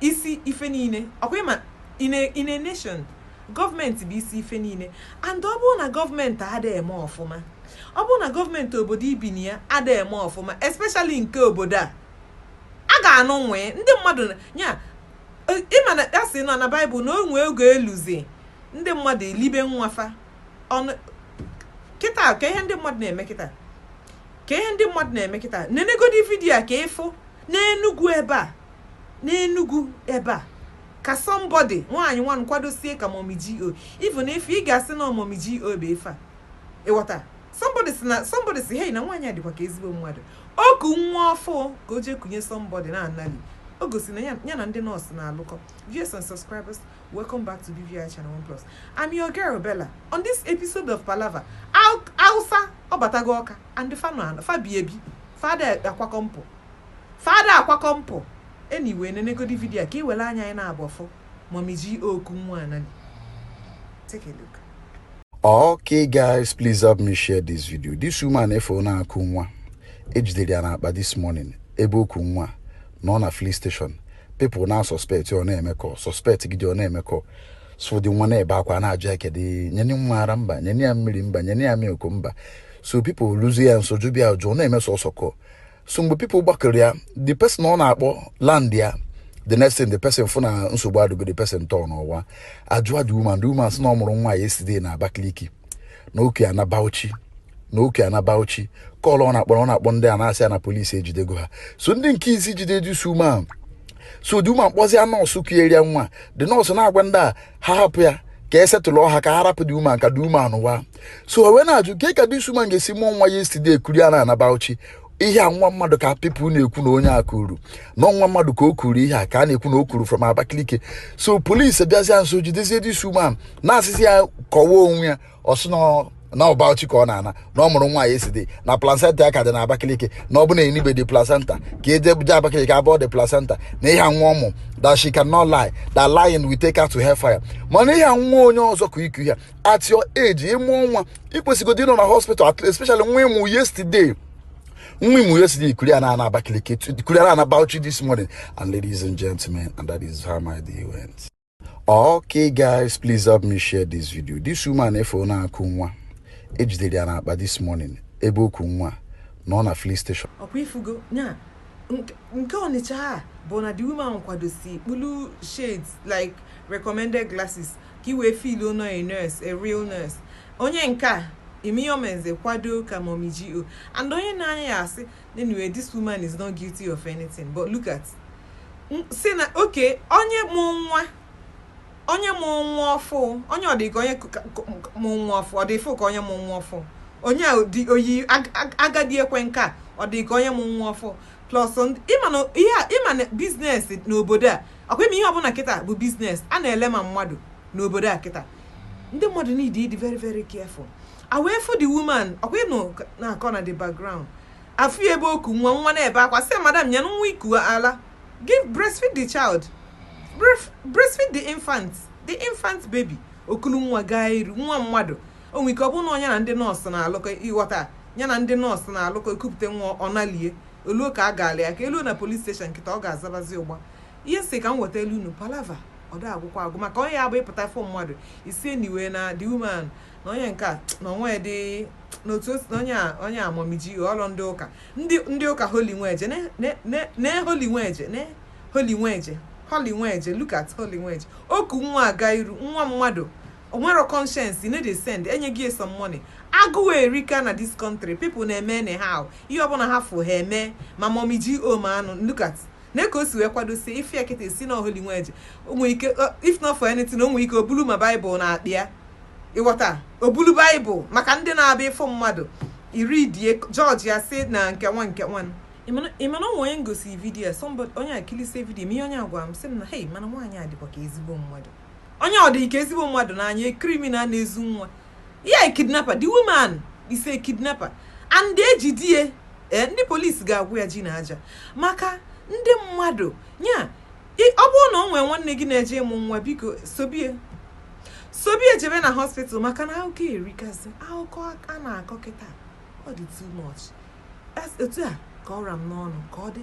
isi ife niile ọ kwa ị ma in a in a nation gọọmenti bụ isi ife niile and ọ bụrụ na gọọmenti ada eme ọfụma ọ bụrụ na gọọmenti obodo i bi na ya ada eme ọfụma especially nke obodo a a ga-anụ nwee ndị mmadụ na- ya e- ị ma na a sị nọ na baịbụl na o nwe oge eluzi ndị mmadụ elibe nwa fa ọnụ kịta ka ihe ndị mmadụ na-eme kịta ka ihe ndị mmadụ na-eme kịta nenegodi vidiyo a ka ị fụ n'enugwu ebe a n'Enugu ebe a ka somebody nwaanyị nwanụ kwadosie ka Mommy GO even if ị ga-asị na Mommy GO bụ ife a ị ghọta somebody si na somebody si hey na nwaanyị a dịkwa ka ezigbo mmadụ o ku nwa ọfụụ ka o jee kunye somebody na anali o gosi na ya ya na ndị nọọsụ na-alụkọ viewers and subscribers welcome back to BVI Channel One Plus I'm your girl Bella on this episode of Palava Hausa abatago Ọka and fa nọ anọ fa bi ebi fa ada akwakọ mpụ Fa ada akwakọ mpụ. Anyway, nenegodi vidio a ka i were anya gị naabọ fụ Mọmi GO ku nwa Anani. Take a look. Okay guys, please help me share this video. This woman efe ọ na-akụ nwa e jidere ya n'akpa this morning ebe o ku nwa na ọ na filling station people na suspect ọ na-eme ka suspect gị dị ọ na-eme ka so the nwa na-ebe akwa na-ajụ ya kedu nyeni nwa ara mba nyeni ya mmiri mba nyeni ya milk mba so people luzie ya nso jụba ya ajụjụ ọ na-eme sọsọ kọ so mgbe people gbakọrọ ya the person ọ na-akpọ land ya the next thing the person fụ na nsogbu adịgo the person tọọ n'ụwa ajụa the woman the woman sị na ọ mụrụ nwa yesterday na Abakaliki na o ku ya ana Bauchi na o ku ya ana Bauchi call ọ na-akpọrọ ọ na-akpọ ndị a na-asị ya na polisi ejidego ha so ndị nke isi jide dị so the woman kpọzie nọọsụ kunyere ya nwa the nọọsụ na-agwa ndị a ha hapụ ya ka e setụlụ ọha ka ha rapụ the woman ka the woman wa so wee na-ajụ kee ka this woman ga-esi mụọ nwa yesterday kuru ya na-ana Bauchi ihe a nwa mmadụ ka pipụl na-ekwu na onye a kuru na nwa mmadụ ka o kuru ihe a ka a na-ekwu na o kuru from Abakaliki so polisi bịazie nso jidezie this woman na-asịzi ya kọwa onwe ya ọ sị na ọ Bauchi ka ọ na-ana na ọ mụrụ nwa yesterday na placenta ya ka dị na Abakaliki na ọ bụ na e nibe the placenta ka eje buje Abakaliki abọọ the placenta na ihe nwa ọ mụ that she cannot lie that lying will take her to hellfire mana ihe nwa onye ọzọ ka i ku ihe a at your age ị mụọ nwa i kwesịgodi ịnọ na hospital especially nwa ị mụ yesterday nwa ị mụ yesterday i kuru ya na-ana Abakaliki i kuru ya na-ana Bauchi this morning and ladies and gentlemen and that is how my day went okay guys please help me share this video this woman efe ọ na-akụ nwa e jidere ya n'akpa this morning ebe o ku nwa na ọ na filling station ọ kwa ị fụgo ya nke ọnịcha a bụ na the woman kwadosi kpulu shades like recommended glasses ka i wee feel ono a nurse a real nurse onye nke a imiyomenze kwado ka mommy GO and onye na-anya ya asị anyway this woman is not guilty of anything but look at si na oke onye mụ nwa onye mụ nwa ọfụ onye ọ dị ka onye mụ nwa ọfụ ọ dị fụ ka onye mụ nwa ọfụ onye dị oyi agadi ekwe nka ọ dị ka onye mụ nwa ọfụ plus ịma na business n'obodo a ọkwa ịma ihe ọbụla kịta bụ business a na-ele ma mmadụ n'obodo a kịta ndị mmadụ need ịdị very very careful I wee fụ the woman ọkwa ịnụ na-akọ na the background afụ ya ebe o ku nwa nwa na-ebe akwa sị madam nye nwa i ku ala give breastfeed the child breastfeed the infant the infant baby o kulu nwa gaa iru nwa mmadụ o nwe ike ọ bụrụ na onye na ndị nọọsụ na-alụkọ ịghọta ya na ndị nọọsụ na-alụkọ ekupụta nwa ọ nalị ya o luo ka a gaala ya ka e luo na police station kịta ọ ga-azabazi ụgba ihe si ka m weta elu unu palava ọ da agwụkwa agwụ maka onye ya bụ ị pụta fụ mmadụ ị sị anyway na the woman na onye nke a na o nwe dị n'otu onye a onye a mummy GO ọrụ ndị ụka ndị ndị ụka holy nweje ne holy nweje ne holy nweje holy nweje look at holy nweje o ku nwa aga iru nwa mmadụ o nwero conscience you no dey send enye gị some money agụụ erika na this country people na-eme anyhow ihe ọbụla ha fụ ha eme ma mummy GO ma anụ look at na ka o si wee kwadosie ife ya kịta ị sị na ọ holy nweje o nwere ike ọ- if not for anything o nwere ike o bulu ma baịbụl n'akpa ya ịghọta o bulu baịbụl maka ndị na-abịa ịfụ mmadụ iri die judge ya si na nke nwa nke nwa ịma na o nwe onye m gosi video somebody onye a kilisie video ma ihe onye a gwara m sị m na hei mana nwaanyị a dịkwa ka ezigbo mmadụ Onye ọ dị ka ezigbo mmadụ n'anya, a criminal na-ezu nwa. Yeah a kidnapper, the woman is a kidnapper. And ejide ya, eh, ndị police ga-agwụ ya ji na aja. Maka ndị mmadụ, ya, i- ọ bụrụ na o nwere nwanne gị na-eje ịmụ nwa, biko sobe ya. Sobe ya jebe na hospital maka na akụkọ erikazị. Akụkọ a na-akọ kịta, ọ dị too much. That's- Otu a ka ọ ra m n'ọnụ, ka ọ dị.